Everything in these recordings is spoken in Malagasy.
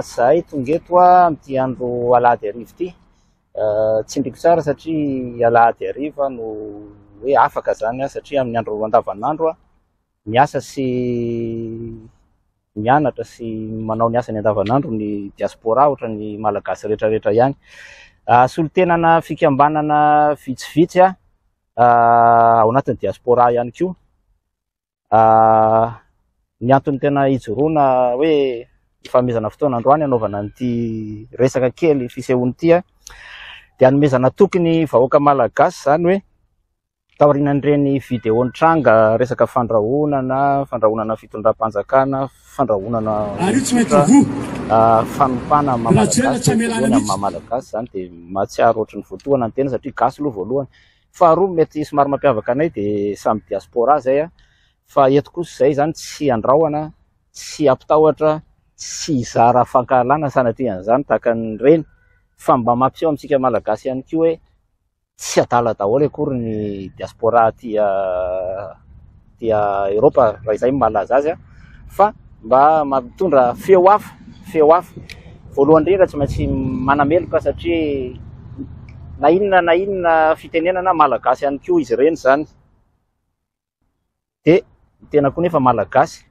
zahay tonga eto amin'ity andro alahady arivo ity eh, tsy ndriko tsara satria alahady arivo no hoe afaka zany satria amin'ny andro andavanandro Miasa sy mianatra sy manao ny asany andavanandro ny diaspora ohatra ny Malagasy rehetra rehetra ihany. Ah, solontenana fikambanana vitsivitsy ah, ao anatin'ny diaspora ihany koa ah, ny antony tena ijoroana hoe ifanomezana fotoana androany hanaovana an'ity resaka kely fisehoana ity ah, dia hanomezana toky ny vahoaka Malagasy izany hoe Taorian'ireny video nitranga resaka fandrahonana, fandrahonana fitondram-panjakana, fandrahonana olon-tsotra, fanompana amin'ny maha-malagasy, voalohany amin'ny maha-malagasy, izany dia mahatsiaro ohatran'ny voatohana ny tena satria gasy aloha voalohany. Faharoa mety somary mampiavaka anay dia samy diaspora izay fa eto kosa izay izany tsy andrahona, tsy hampitahotra, tsy hizara fankahalana sanatria an'izany tahaka an'ireny fa mba mampiseho amintsika malagasy ihany koa hoe Tsy adala daholo akory ny diaspora aty Eoropa raha izay no mahalaza azy fa mba mampitondra feo hafa, feo hafa. Voalohany indrindra tsy maintsy manameloka satria na inona na inona fitenenana malagasy ihany koa izy ireny izany. dia ny tena koa nefa malagasy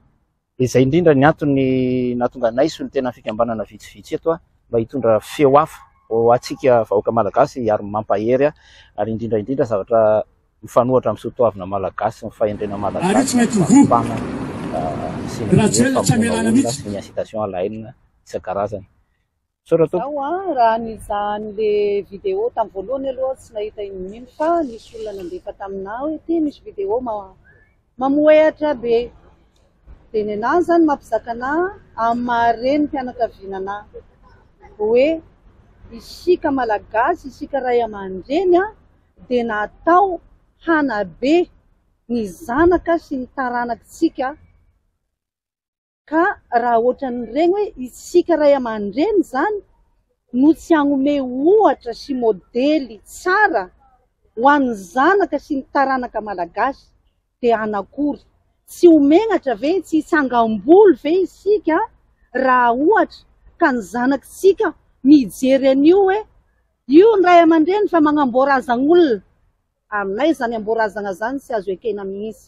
dia izay indrindra ny antony nahatonga anay sy ny tena fikambanana vitsivitsy eto mba hitondra feo hafa ho antsika vahoaka malagasy ary mampahery ary indrindra indrindra zavatra mifanohatra amin'ny soatoavina malagasy sy ny fahendrena malagasy mba hahafahana miseho vaovao sy ny incitation à la haine isan-karazany. Misaotra tompoko. Zaho an, raha nizaha an'le vidéo tam voalohany aloha tsy nahita iny mino fa nisy olona nandefa taminah hoe ty misy vidéo mamoehatra be de nenah zany mampizaka anah am maha reny fianakaviana anah hoe isika malagasy isika ray amandreny an de natao hanabe ny zanaka sy ny taranakitsika Ka raha ohatran'ireny hoe isika ray aman-dreny izany no tsy hanome ohatra sy modely tsara ho an'ny zanaka sy ny taranaka malagasy dia anakory? Tsy ho menatra ve, tsy hitsangam-bolo ve isika raha ohatra ka ny zanakitsika mijery an'io hoe io ny ray aman-dreny fa magnamboarazan'olona? Aminay izany amboarazagna izany tsy azo ekena mihitsy.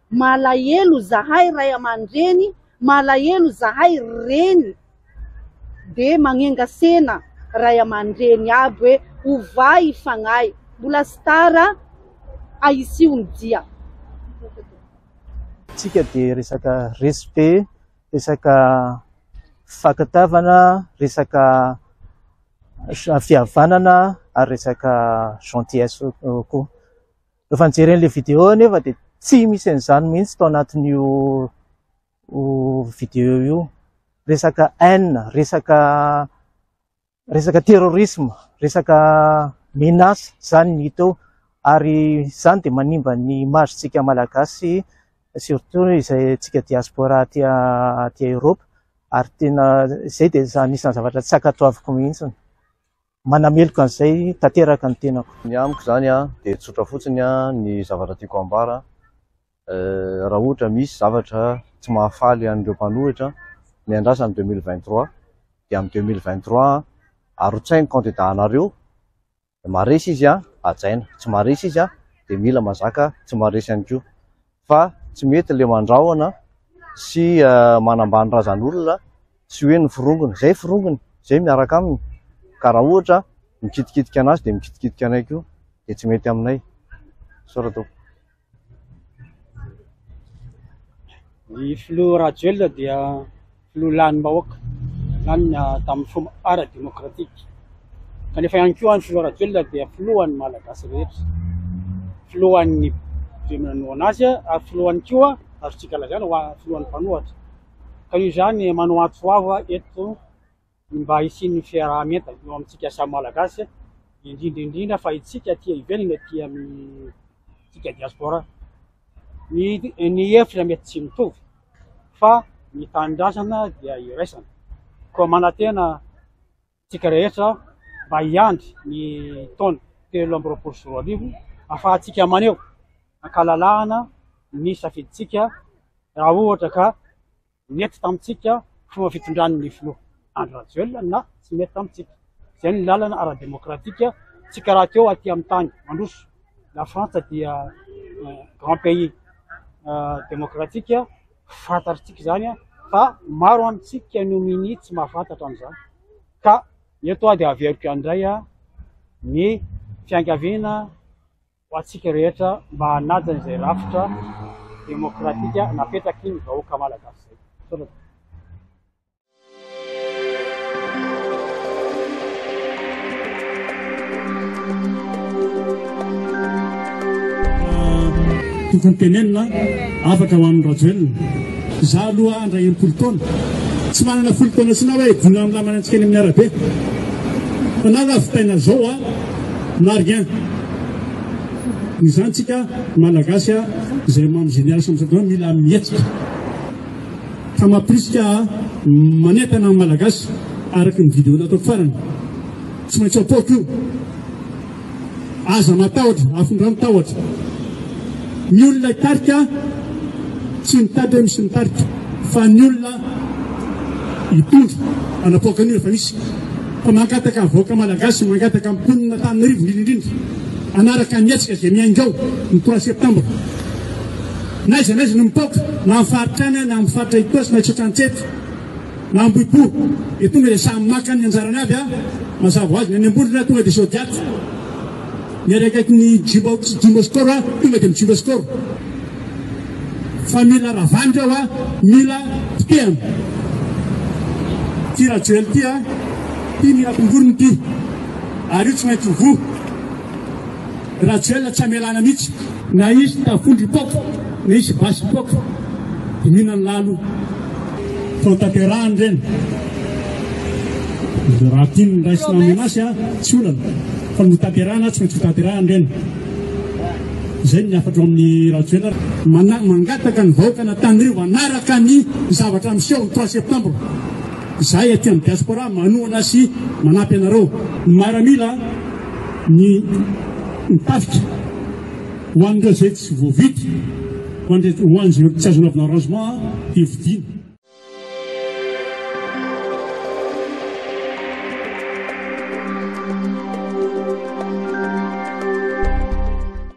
Malahelo zahay ray aman-dreny, malahelo zahay reny dia magnenga sena ray aman-dreny aby hoe ovay fagnahy mbola tsy tara ahisio ny dia. Tsika dia resaka respect, resaka fakatavana, resaka fihavanana ary resaka gentillesse koa. Rehefa nijery an'ilay vidéo aho nefa dia tsy misy an'izany mihitsy tao anatin'io vidéo io. Resaka haine, resaka resaka terrorisme, resaka menace izany no hita eo ary izany dia manimba ny image-ntsika malagasy surtout izay antsika diaspora aty aty Europe ary tena izay dia anisan'ny zavatra tsy ankatoaviko mihitsy. Manameloka an'izay tanteraka ny tenako. Ny amiko izany dia tsotra fotsiny ny zavatra tiako ambara. Raha ohatra misy zavatra tsy mahafaly an'ireo mpanohitra, miandrasa ny deux mille vingt trois, dia amin'ny deux mille vingt trois arotsahy ny kandida anareo, maharesy izy hajaina, tsy maharesy izy dia mila mazaka tsy maharesy ihany koa. fa tsy mety ilay mandrahona sy manambany razan'olona sy hoe ny forongony. Izay forongony, izay miaraka aminy. Ka raha ohatra mikitikitika an'azy dia mikitikitika anay koa dia tsy mety aminay. Sora tompoko. Ny filoha Rajoelina dia no lanin'ny vahoaka, lanina tamin'ny fomba ara-demokratika, kanefa ihany koa ny filoha Rajoelina dia filohan'ny Malagasy rehetra, filohan'ny be manohana azy ary filohany koa azontsika lazaina ho filohan'ny mpanohatra, ka io izany manohatsoava eto. ny mba hisian'ny fiaraha-mientana eo amintsika samy Malagasy, indrindra indrindra fa itsika aty ivelany, aty amintsika diaspora. Ny ny hevitra mety tsy mitovy fa ny tanindrazana dia iraisana, koa manantena tsika rehetra mba hiandry ny taona telo amby roapolo sy roa arivo afahantsika maneho ankalalahana ny safidintsika raha ohatra ka Nety tamintsika fomba fitondran'ny filoha Andry Rajoelina na tsy nety tamintsika. Izay no lalana ara-demokratika, tsy karaha teo aty amin'ny tany mandroso. La Frantsa dia grand pays demokratika, fantatritsika izany fa maro amintsika no minia tsy mahafantatra an'izany. Ka eto aho dia averiko ihany indray ny fiangaviana. ho antsika rehetra mba hanaja izay rafitra demokratika napetraky ny vahoaka malagasy izay. Misaotra tompoko. tokony tenenina afaka ho an'ny rajoelina za aloha andra impolo taona tsy manana folo taona sina hoe dina milamanantsika any amin'ny arabe fa na lavitaina zao a na rien ny zany tsika malagasy a zay mamy génération amizao daholo mila mihetsika fa mapirisika manentana ny malagasy araka ny vidéo natao farany tsy maintsy apoako io aza matahotra afindrano tahotra ny olona tarika tsy mitady hoe misy mitarika fa ny olona hitondra anapoaka an'io efa misy Fa mangataka ny vahoaka Malagasy sy mangataka ny mponina Antananarivo indrindra indrindra hanaraka ny hetsika izay miainga ao ny trois septembre. N'aiza n'aiza no mipaoka na amin'ny faritra any na amin'ny faritra Itaosy na Itaosy Antsety na Ambohipo dia tonga dia samy maka ny anjarany avy a mazava ho azy ny any Ambolina tonga dia Zodiac miaraikaiky ny Jumbo Jumbo Score tonga dia mijumbo score. Fa mila ravandry aho a, mila potehana. Ty Rajoel ty a, ty mila tongorony ty. Ary io tsy maintsy ho voa. Rajoel tsy amelana mihitsy. Na hisy tafondry poaka, na hisy basy poaka, dia mihinana lalo. Fa ho tanterahany ireny. Raha tian'ny raisina ny menace a, tsy olana. Fa notanterahina, tsy maintsy ho tanterahany ireny. Izay ny hafatro amin'i Rajoelina. Mana, mangataka ny vahoaka an'Antanirivo hanaraka ny zavatra miseho ny trois septembre. Izahay aty amin'ny diaspora manohana sy manampy anareo. Ny maramila, ny ny tafika, ho an'ireo izay tsy voavidy, ho an'ireo ho an'izay tsy azo anaovana rangement dia vidiana.